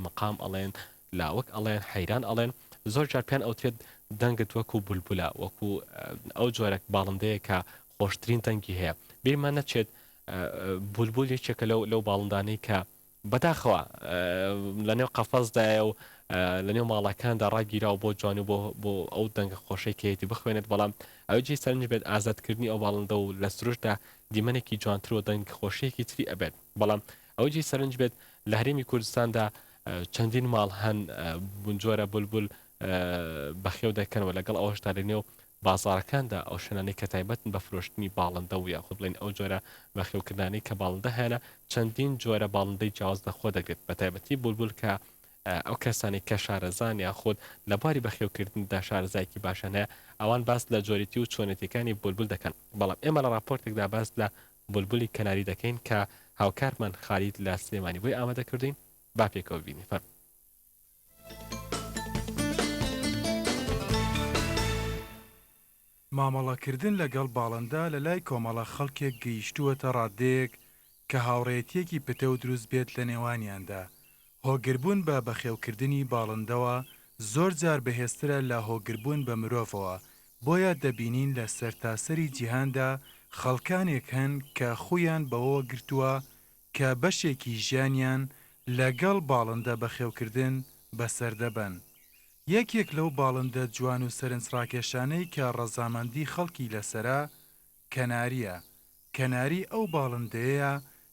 مقام ئەڵێن، لاوک ئەڵێن، حەیران ئەڵێن، زۆر جار پێیان ئەوترێت دەنگت وەکو بولبولە، وەکو ئەو جۆرە باڵندەیە کە خۆشترین دەنگی هەیە، بیرمان نەچێت بولبول یەکێکە لەو لەو باڵندانەی کە بەداخەوە لەنێو قەفەزدایە و لەنێو ماڵەکاندا ڕاگیرا و بۆ جوان و بۆ بۆ ئەو دەنگە خۆشەی کەیەتی بخوێنێت بەڵام ئەوجی سەرنج بێت ئازادکردنی ئەو باڵندە و لە سروشدا دیمەنێکی جوانتر و دەنگ خۆشیەکی تری ئەبێت بەڵام ئەوە جێی سەرنج بێت لە هەرێمی کوردستاندا چەندین ماڵ هەن بونجۆرە بولبول بەخێو دەکەنەوە لەگەڵ ئەوەشدا لە نێو بازارەکاندا ئەو شوێنانەی کە تایبەتن بە فرۆشتنی باڵندە و یاخود بڵێن ئەو جۆرە بەخێوکردانی کە باڵندە هەیەە چەندین جۆرە باڵندەی جیاواز لەخۆ دەگرێت بە تایبەتی بولبول کە ئەو کەسانی کە شارەزان یاخود لە باری بەخێوکردندا شارزایکی باشەنە ئەوان باس لە جۆریتی و چۆنێتەکانی بولبول دەکەن بەڵام ئێمە لە راپۆرتێکدا باس لە بولبولی کەناری دەکەین کە هاوکارمان خالید لە سلێمانی بۆی ئامادە کردووین با پێکەوە ببینین فەرموو. مامەڵەکردن لەگەڵ باڵندە لەلای کۆمەڵە خەڵکێک گەیشتووەتە ڕاددەیەک کە هاوڕێیەتییەکی پتەو دروست بێت لەنێوانیاندا هۆگربوون بە بەخێوکردنی باڵندەوە زۆر جار بەهێزترە لە هۆگربوون بە مرۆڤەوە، بۆیە دەبینین لە سەرتاسەری جیهاندا خەڵکانێک هەن کە خوویان بەوەوە گرتووە کە بەشێکی ژیانیان لەگەڵ باڵندە بەخێوکردن بەسەر دەبەن. یەکێک لەو باڵندە جوان و سەرنجڕاکێشانەی کە ڕەزامەندی خەڵکی لەسەرە، کەنارییە. کەناری ئەو باڵندەیەیە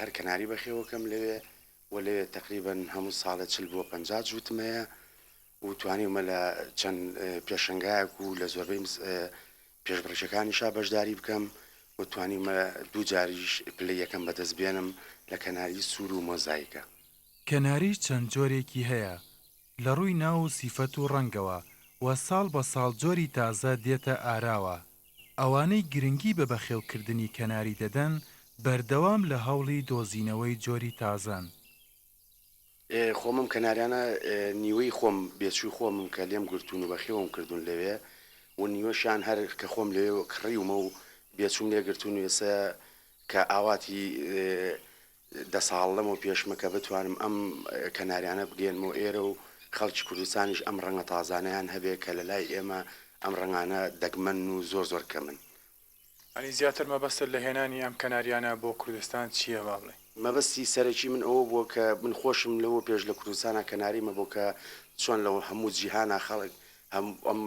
هەر کەناری بەخێوەکەم لەوێ و لەوێ تەقریبەن هەموو ساڵێ چل بۆ پەنجا جووتمەیە و توانیومە لە چەند پێشنگایەک و لە زۆربەی پێشبڕکێکانیشا بەشداری بکەم و توانیومە دوو جاریش پلەی یەکەم بەدەست بێنم لە کەناری سوور و مۆزایکە. کەناری چەند جۆرێکی هەیە لە ڕووی ناو و سیفەت و ڕەنگەوە و ساڵ بە ساڵ جۆری تازە دێتە ئاراوە، ئەوانەی گرنگی بە بەخێوکردنی کەناری دەدەن، بەردەوام لە هەوڵی دۆزینەوەی جۆری تازەن. خۆم ئەم کەناریانە نیوەی خۆم بێچووی خۆمم کە لێم گرتوون و بەخێوم کردوون لەوێ و نیوەشیان هەر کە خۆم لەوێ کڕیومە و بێچووم لێ گرتوون و ئێستا کە ئاواتی دە ساڵ لەمەو پێشمە کە بتوانم ئەم کەناریانە بگەیەنمەوە ئێرە و خەڵکی کوردستانیش ئەم ڕەنگە تازانەیان هەبێ کە لە لای ئێمە ئەم ڕەنگانە دەگمەنن و زۆر زۆر کەمن. ئەنی زیاتر مەبەستت لە هێنانی ئەم کەناریانە بۆ کوردستان چییە با بڵێی؟ مەبەستی سەرەکی من ئەوە بووە کە من خۆشم لەوە پێش لە کوردستانا کەناری مەبۆ کە چۆن لە هەموو جیهانا خەڵک ئەم ئەم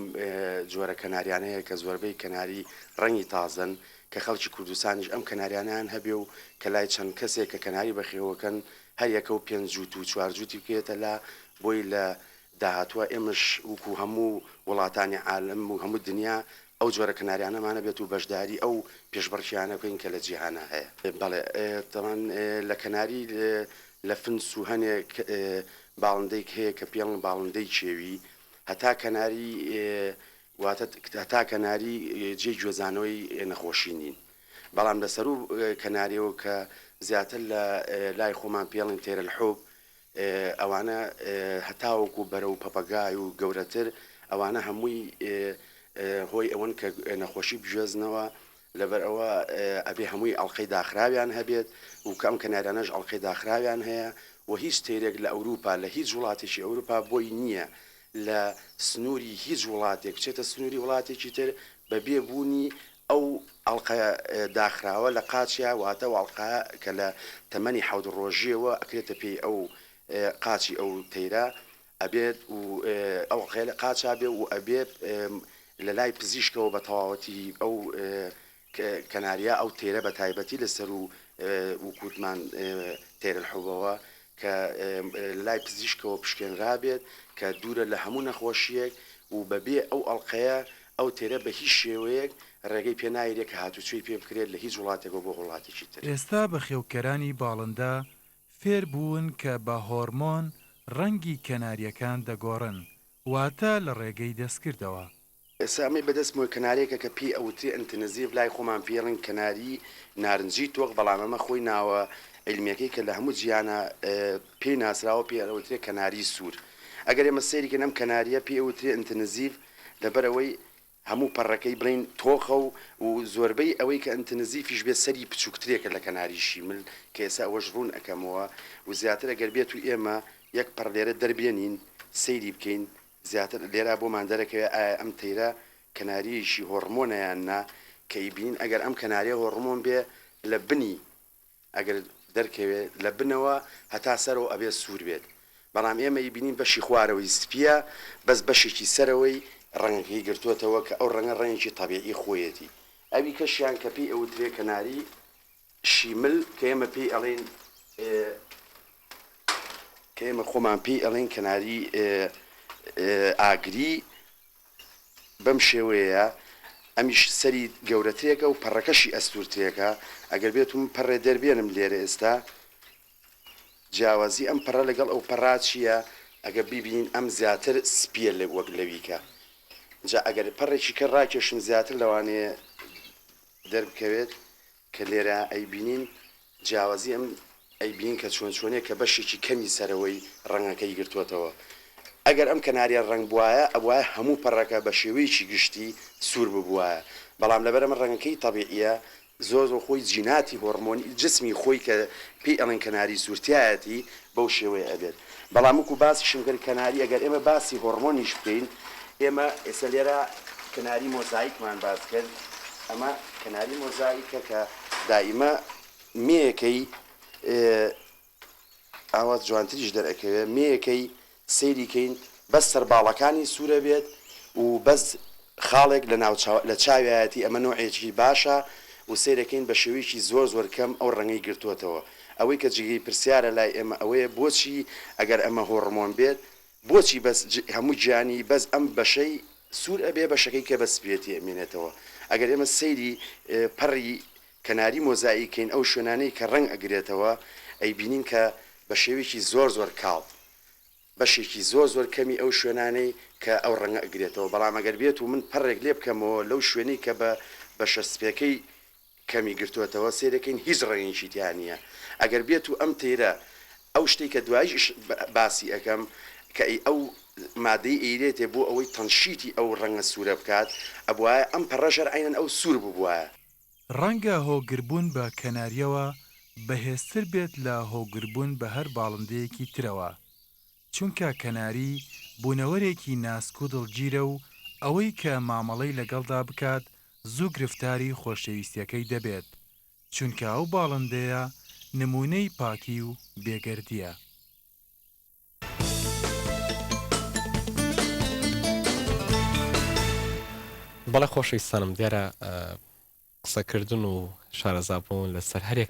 جۆرە کەناریانەیە کە زۆربەی کەناری ڕەنگی تازەن کە خەڵکی کوردستانیش ئەم کەناریانەیان هەبێ و کە لای چەند کەسێک کە کەناری بەخێوەکەن هەر یەکە و پێنج جووت و چوار جووتی بکرێتە لا بۆی لە داهاتووە ئێمەش وکو هەموو وڵاتانی عالەم و هەموو دنیا ئەو جۆرە کەناریانەمان هەبێت و بەشداری ئەو پێشبڕکێیانە بکەین کە لە جیهانا هەیە. بەڵێ تەمان لە کەناری لە فنس و هەنێک باڵندەیک هەیە کە پێڵن باڵندەی کێوی هەتا کەناری واتە هەتا کەناری جێی گوێزانەوەی نەخۆشی نین بەڵام لە سەرو کەنارەوە کە زیاتر لە لای خۆمان پێڵین تێرەل حوب ئەوانە هەتاوەکو و بەرە و پەپەگای و گەورەتر ئەوانە هەمووی هۆی ئەوەن کە نەخۆشی بژێزنەوە لەبەر ئەوە ئەبێ هەمووی ئەڵقەی داخراویان هەبێت و کە ئەم کەناریانەش ئەڵقەی داخراویان هەیە و هیچ تەیرێک لە ئەوروپا لە هیچ وڵاتێکی ئەوروپا بۆی نییە لە سنووری هیچ وڵاتێک بچێتە سنووری وڵاتێکی تر بە بێ بوونی ئەو ئەڵقە داخراوە لە قاچیا واتە ئەو ئەڵقە کە لە تەمەنی حەوت ڕۆژییەوە ئەکرێتە پێی ئەو قاچی ئەو تەیرە ئەبێت و ئەو عقێلە قاچا بێ و ئەبێت لە لای پزیشکەوە بە تەواوەتی ئەو کەناریە ئەو تێرە بە تایبەتی لە سەر و وکوتمان تێر الحبەوە کە لە لای پزیشکەوە پشکێنرا بێت کە دوورە لە هەموو نەخۆشیەک و بە بێ ئەو ئەڵقەیە ئەو تێرە بە هیچ شێوەیەک ڕێگەی پێ نایرێت کە هاتوچۆی پێ بکرێت لە هیچ وڵاتێکەوە بۆ وڵاتێکی تر. ئێستا بەخێوکەرانی باڵندە فێربوون کە بە هۆرمۆن ڕەنگی کەنارییەکان دەگۆڕن، واتە لە ڕێگەی دەستکردەوە. ئێستا ئەمەی بەدەستمەوە کەنارییەکە کە پێی ئەوترێ ئنتنزیڤ، لای خۆمان پێی ڕەنگی کەناریی نارنجی تۆخ، بەڵام ئەمە خۆی ناوە عیلمییەکەی کە لە هەموو جیهانا پێی ناسراوە پێی ئەوترێ کەناریی سوور. ئەگەر ئێمە سەیری کەین ئەم کەنارییە پێی ئەوترێ ئنتنزیڤ لەبەر ئەوەی هەموو پەڕەکەی بڵێین تۆخە و و زۆربەی ئەوەی کە ئنتنزیفیش بێت سەری پچووکترێکە لە کەناری شیمل کە ئێستا ئەوەش ڕوون ئەکەمەوە و زیاتر ئەگەر بێتوو ئێمە یەک پەڕ لێرە دەربێنین سەیری بکەین زیاتر لێرا بۆمان دەرەکەوێ ئایا ئەم تەیرە کەناریەیشی هۆڕمۆنە یان نا کە ئیبینین ئەگەر ئەم کەناریە هۆڕمۆن بێ لە بنی ئەگەر دەرکەوێ لە بنەوە هەتا سەرەوە ئەبێ سوور بێت بەڵام ئێمە ی بینین بەشی خوارەوەی سپیە بەس بەشێکی سەرەوەی ڕەنگەکەی گرتۆتەوە کە ئەو ڕەنگە ڕەنگێکی طەبیعی خۆیەتی ئەوی کەشیان کە پێی ئەوترێ کەناری شیمل کە ئێمە پێی ئەڵێین کە ئێمە خۆمان پێی ئەڵێین کەناری ئاگری. بەم شێوەیەیە ئەمیش سەری گەورەترێکە و پەڕەکەشی ئەستورترێکە ئەگەر بێتو من پەڕێ دەربێنم لێرە ئێستا جیاوازی ئەم پەڕە لەگەڵ ئەو پەڕا چیە ئەگەر بیبینین ئەم زیاتر سپیە لە وەک لەویکە جا ئەگەر پەڕێکی کە ڕاکێشم زیاتر لەوانەیە دەربکەوێت کە لێرە ئەیبینین جیاوازی ئەم ئەیبینین کە چۆن چۆنیە کە بەشێکی کەمی سەرەوەی ڕەنگەکەی گرتووەتەوە ئەگەر ئەم کەناریە ڕەنگ بوایە ئەبوایە هەموو پەڕەکە بە شێوەیەکی گشتی سوور ببوایە بەڵام لەبەر ئەمە ڕەنگەکەی تەبیعیە زۆر زۆر خۆی جیناتی هۆڕمۆنی جسمی خۆی کە پێی ئەڵێن کەناری سوور تیایەتی بەو شێوەیە ئەبێت بەڵام وەکو باسیشم کرد کەناری ئەگەر ئێمە باسی هۆڕمۆنیش بکەین ئێمە ئێستا لێرە کەناری مۆزایکمان باس کرد ئەمە کەناری مۆزایکە کە دائیمە مێیەکەی ئاوا جوانتریش دەرئەکەوێت مێیەکەی سەیری کەین بەس سەرباڵەکانی سورە بێت و بەس خاڵێک لە ناو چاو لە چاویایەتی ئەمە نۆعێکی باشە و سەیرەکەین بە شێوەیەکی زۆر زۆر کەم ئەو ڕەنگەی گرتۆتەوە ئەوەی کە جیگەی پرسیارە لای ئێمە ئەوەیە بۆچی ئەگەر ئەمە هۆڕمۆن بێت بۆچی بەس ج هەموو گیانی بەس ئەم بەشەی سور ئەبێ بەشەکەی کە بە سپیەتی ئەمێنێتەوە ئەگەر ئێمە سەیری پەڕی کەناری مۆزاییک کەین ئەو شوێنانەی کە ڕەنگ ئەگرێتەوە ئەیبینین کە بە شێوەیەکی زۆر زۆر کاڵ بەشێکی زۆر زۆر کەمی ئەو شوێنانەی کە ئەو ڕەنگە ئەگرێتەوە بەڵام ئەگەر بێت و من پەڕێک لێ بکەمەوە لەو شوێنەی کە بە بەشە سپێکەی کەمی گرتۆتەوە سەیرەکەین هیچ ڕەنگێکی تیا نییە ئەگەر بێت و ئەم تەیرە ئەو شتەی کە دواییش باسی ئەکەم کە ئی ئەو مادەی ئەیرێتێ بۆ ئەوەی تەنشیتی ئەو ڕەنگە سوورە بکات ئەبوایە ئەم پەڕەشر عەینەن ئەو سوور ببوایە. ڕەنگە هۆگربوون بە کەنارییەوە بەهێزتر بێت لە هۆگربوون بە هەر باڵندەیەکی ترەوە، چونکە کەناری بوونەوەرێکی ناسک و دڵگیرە و ئەوەی کە مامەڵەی لەگەڵدا بکات زوو گرفتاری خۆشەویستییەکەی دەبێت، چونکە ئەو باڵندەیە نموونەی پاکی و بێگەردییە. بەڵێ خۆشەویستانم دیارە قسەکردن و شارەزابوون لەسەر هەرێک